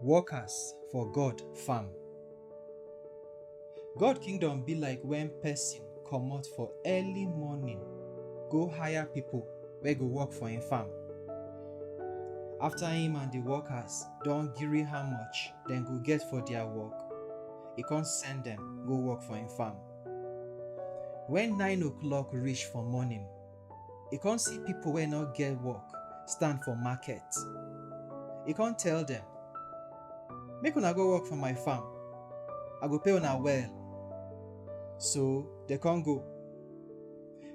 Workers for God farm. God kingdom be like when person comot for early morning go hire people wey go work for him farm. After him and the workers don gree how much dem go get for their work, e come send dem go work for him farm. When nine o'clock reach for morning, E come see pipo wey no get work stand for market. E come tell dem, Make una go work for my farm, I go pay una well. So dem come go.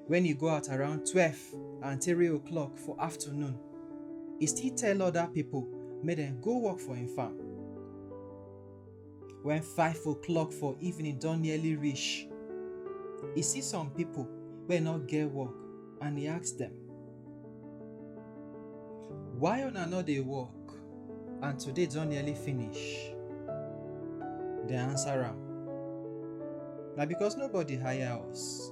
Wen e go out around twelve and three o'clock for afternoon, e still tell oda pipo make dem go work for im farm. When five o'clock for evening don nearly reach, e see some people wey no get work and e ask dem, Why una no dey work and today don nearly finish? Dem answer am, Na because nobody hire us.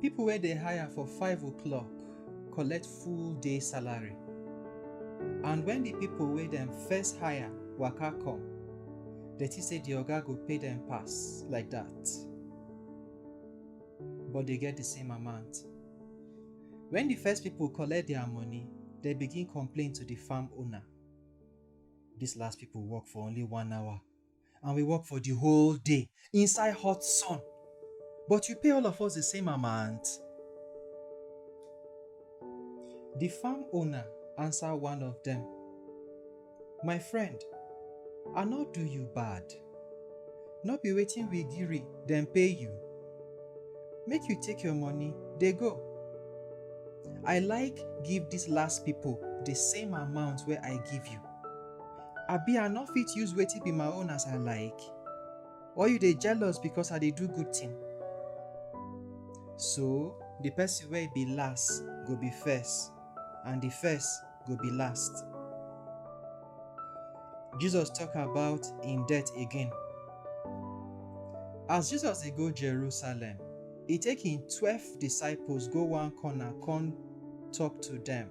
People wey dey hire for five o'clock collect full day salary. And when the people wey dem first hire waka come, dem think say the oga go pay dem pass like that. But they get the same amount. When the first people collect their money, they begin complain to the farm owner. These last people work for only one hour. and we work for the whole day inside hot sun. But you pay all of us the same amount. The farm owner answer one of them, My friend, I no do you bad. No be wetin we gree dem pay you. Make you take your money dey go. I like give these last people the same amount wey I give you. Abi I no fit use wetin be my own as I like? Or you dey jealous because I dey do good thing? So, the person wey be last go be first, and the first go be last. Jesus talk about im death again. As Jesus dey go Jerusalem, e take im twelve disciples go one corner come talk to dem.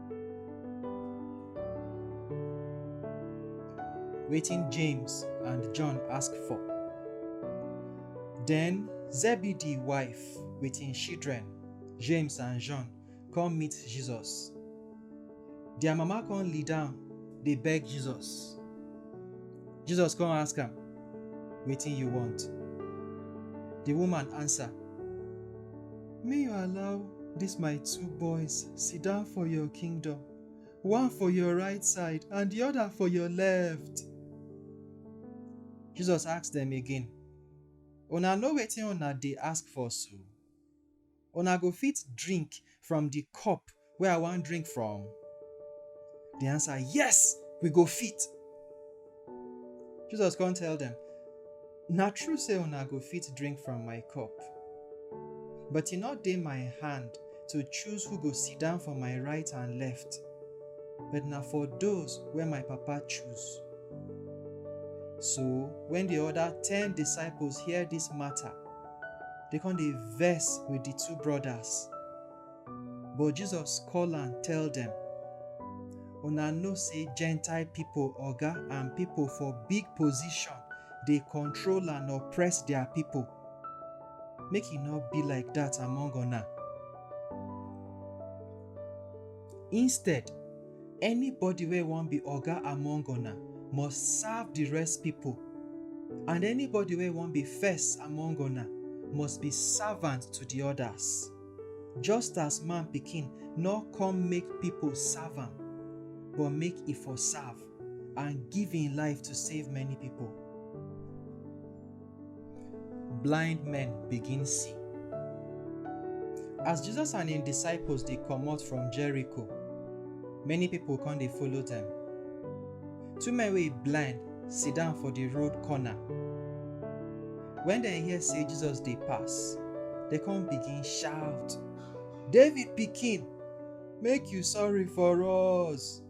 Waiting James and John ask for. Then Zebedee wife waiting children, James and John, come meet Jesus. Their mama come lead down, they beg Jesus. Jesus come ask him, waiting you want. The woman answer, Me you allow dis my two boys sit down for your kingdom, one for your right side and di oda for your left. Jesus ask dem again, Una know wetin una dey ask for so? Una go fit drink from di cup wey I wan drink from? Dem answer, Yes, we go fit. Jesus come tell dem, Na true say una go fit drink from my cup, but e no dey my hand to choose who go sit down for my right and left, but na for those wey my Papa choose. So when the other ten disciples hear this matter, they come dey vex with the two brothers. But Jesus call am tell dem, Una know say Gentile people oga and people for big position dey control and oppress their people. Make e no be like that among una. Instead, anybody wey wan be oga among una must serve the rest people, and anybody wey wan be first among una must be servant to the others. Just as Man Pikin nor come make pipo serve am, but make e for serve and give im life to save many pipo. Blind men begin see. As Jesus and im disciples dey comot from Jericho, many pipo con dey follow dem. Two men wey blind sit down for di road corner. Wen dem hear sey Jesus dey pass, dem come begin shout, David pikin, make you sorry for us!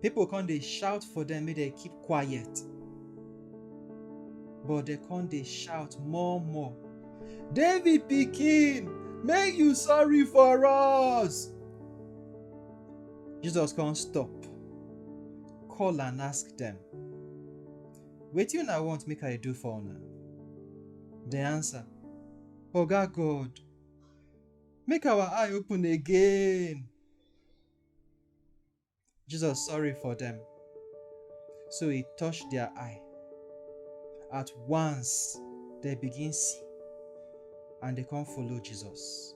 Pipo come dey shout for dem make dem keep quiet, but dem come dey shout more more, David pikin, make you sorry for us! Jesus come stop. call and ask dem, Wetin una want make I do for una? Dem answer, Oga God, make our eye open again. Jesus sorry for dem, so he touch their eye. At once, they begin see and they come follow Jesus.